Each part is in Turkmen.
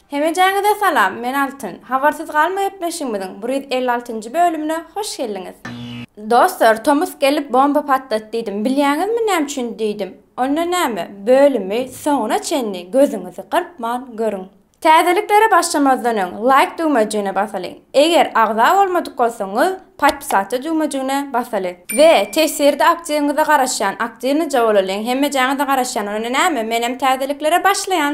Hemejäňize salam, men Altyn. Habarsyz galma gepleşigimiziň bir ýüz elli altynjy bölümine hoş geldiňiz. Dostlar, tomus gelip bomba patlat diýdim. Bilýäňizmi näme üçin diýdim. Onda näme, bölümi soňuna çenli gözüňizi gyrpman görüň. Täzeliklere başlamazdan öň Laýk düwmejigine basalyň. Eger agza bolmadyk bolsaňyz Podpisatda düwmejigine basalyň. We tefsirde aktiwiňize garaşýan, aktiwnyja bolalyň, hemmejaňyza garaşýan, onda näme, menem täzeliklere başlaýan.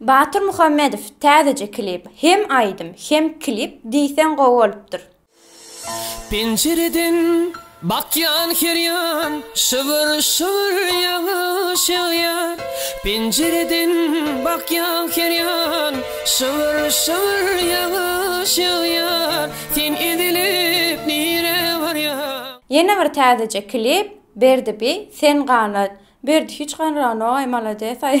Batyr Muhammedow täzeje klip hem aýdym hem klip diýseň gowy bolupdyr. Penjireden bakýan her ýan şybyr şybyr ýagyş ýagýar Penjireden bakýan her ýan şybyr şybyr ýagyş ýagýar Sen ezilip nirä barýaň. Ýene bir täzeje klip Berdi bi sen gana Berdi hiç ganragynogaý malades aý.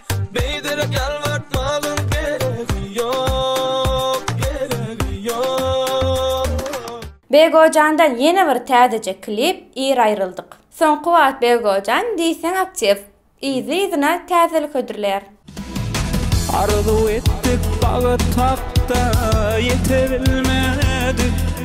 Beýderek ýalbartmagyň geregi ýok, geregi ýok. Begojandan ýene bir täzeje klip ir aýryldyk. Soňky wagt Begojan diýseň aktiw, yzly-yzyna täzelik hödürleýär. Arzuw etdik bagyt hakda ýetebilmedik.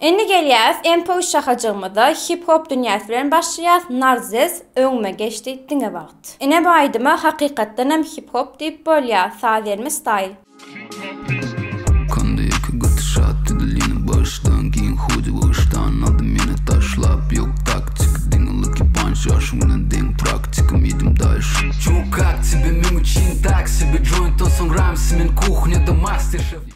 Indi gelýäs MPU şahajygymyza hip hop dünýäsi bilen başlaýas Narzez öňüme geçdi diňe wagt Ine bu aýdyma hakykatdanam hip hop diýip bolýa saz elmi style. Kanda ýeke gaty şat edil ýene bagyşdan giň hudi bagyşdan aldy meni taşlap ýok taktik diňe lucky punch ýaşym bilen deň praktikim iýdim daýyş. Ýok ak tibi meň üçin taksi bir joint da soň ramsi men kuhnýada master şef.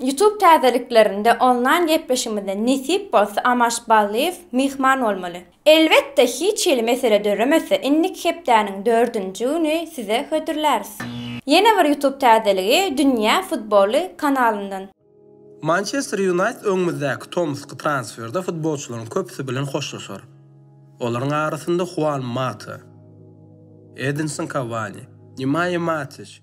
Youtube täzeliklerinde onlaýn gepleşigimizde nesip bolsa Amaş Ballyýew myhman bolmaly. Elbetde hiç hili mesele döremese indiki hepdäniň dördünji güni size hödürläris. Ýene bir youtube täzeligi Dünýä futboly kanalyndan. Mançester Ýunaýted öňümizdäki tomusky transferde futbolçylaryň köpüsi bilen hoşlaşar. Olaryň arasynda Huan Mata, Edinson Kawani, Nemaýa Matiç,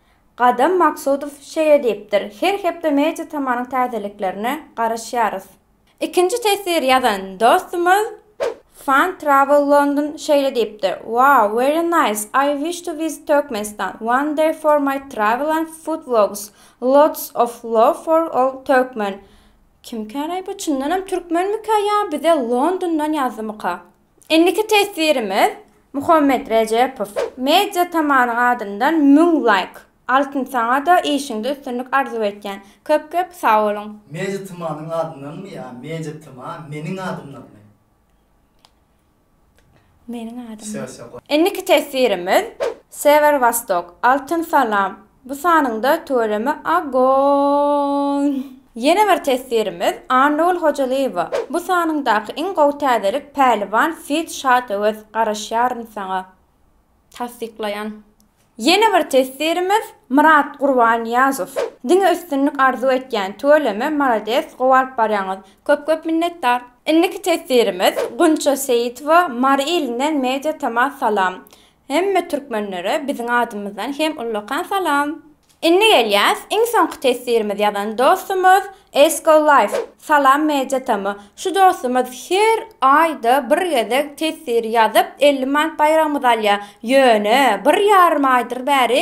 Gadam Maksudow şeýle diýipdir, Her hepde Media Tamanyň täzeliklerine garaşýarys. Ikinji teswir ýazan dostumyz Fun Travel London şeýle diýipdir, Wow, very nice, I wish to visit Turkmenistan one day for my travel and food vlogs, lots of love for all Turkmen. Kimkäraý bu çyndanam türkmenmikä ýa bize Londondan ýazdymyka. Indiki teswirimiz Muhammet Rejepow media tamanyň adyndan müň laýk altyn saňada işiňde üstünlik arzuw etýän köp köp sagboluň. Media tmanyň adyndanmy ýa media tma meniň adymdanmy. Meniň adymdan. Indiki teswirimiz Sever Wostok altyn salam Bu sanyňda tüweleme Agoýn. Ýene bir teswirimiz Annagül Hojalyýewa bu sanyňdaky iň gowy täzelik Päliwan feat Şat Öwez garaşýaryn saňa Tassyklaýan. Ýene bir teswirimiz Myrat Gurbanýazow. Diňe üstünlik arzuw etýän tüweleme malades gowy alyp barýaňyz köp köp minnetdar. Indiki teswirimiz Gunça Seýitowa Mary ilinden media tama salam. Hemme türkmenlere biziň adymyzdan hem ullakan salam. Indi gelýäs iň soňky teswirimiz ýazan dostumyz Esko Life Salam Media Tamy şu dostumyz her aýda bir gezek teswir ýazyp elli manat baýragymyzy alýa ýöne bir ýarym aýdyr bäri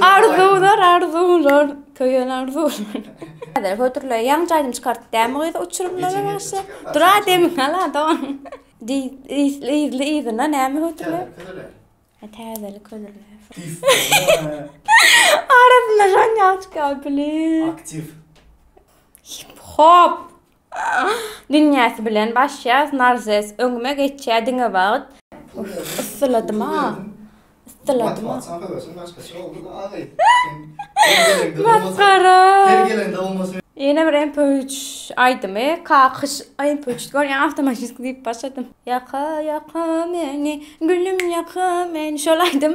Arzuwlar, arzuwlar, köýen arzuwlar. Häzir hödürle ýaň jaýdym çykart dämi gyz uçurymlara başla. Dura demi hala don. Di izli izli izine näme hödürle? Ha täzelik hödürle. Arasynda jan ýaşka bilin. Aktiv. Hop. Dünýäsi bilen başýas narzes öňüme geçýä diňe wagt. Uff yssyladym a yssyladym a. Masgara. Ýene bir mp üç aýdymy kakyş mp üç görýän awtomaşisk diýip başladym. Ýaka ýaka meni gülüm ýaka meni şol aýdym.